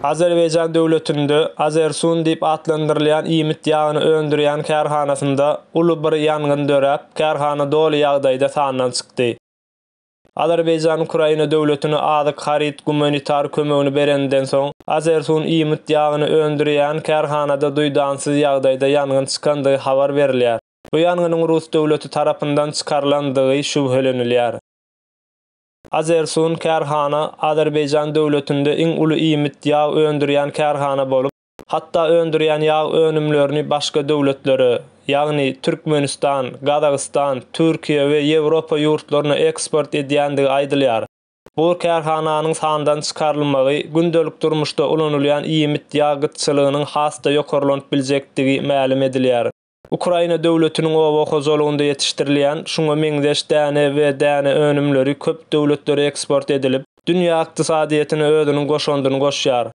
Azerbaýjan döwletinde Azersun diýip atlandyrylýan iýmit ýagyny öndürýän kärhanasynda uly bir ýangyn döräp, kärhana doly ýagdaýda sandan çykdy. Azerbaýjan Ukraina döwletine azyk, haryt, gumanitar kömegini bereninden soň, Azersun iýmit ýagyny öndürýän kärhanada duýdansyz ýagdaýda ýangyn çykandygy habar berilýär. Bu ýangynyň rus döwleti tarapyndan çykarylandygy şübhelenilýär. Azersun kärhana Azerbaýjan döwletinde iň uly iýmit ýag öndürýän kärhana bolup, hatda öndürýän ýag önümlerini başga döwletlere, ýagny Türkmenistan, Gazagystan, Türkiýe we Ýewropa ýurtlaryna eksport edýändigi aýdylýar. Bu kärhananyň sandan çykarylmagy gündelik durmuşda ulanylýan iýmit ýag gytçylygynyň has-da ýokarlanyp biljekdigi mälim edilýär. Ukraina döwletiniň oba hojalygynda ýetişdirilýän şuňa meňzeş däne we däne önümleri köp döwletlere eksport edilip, dünýä ykdysadyýetine özüniň goşandyny goşýar.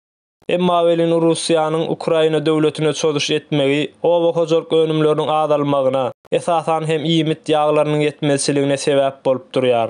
Emma welin Russiýanyň Ukraina döwletine çozuş etmegi oba hojalyk önümleriniň azalmagyna, esasan hem iýmit ýaglarynyň ýetmezçiligine sebäp bolup durýar.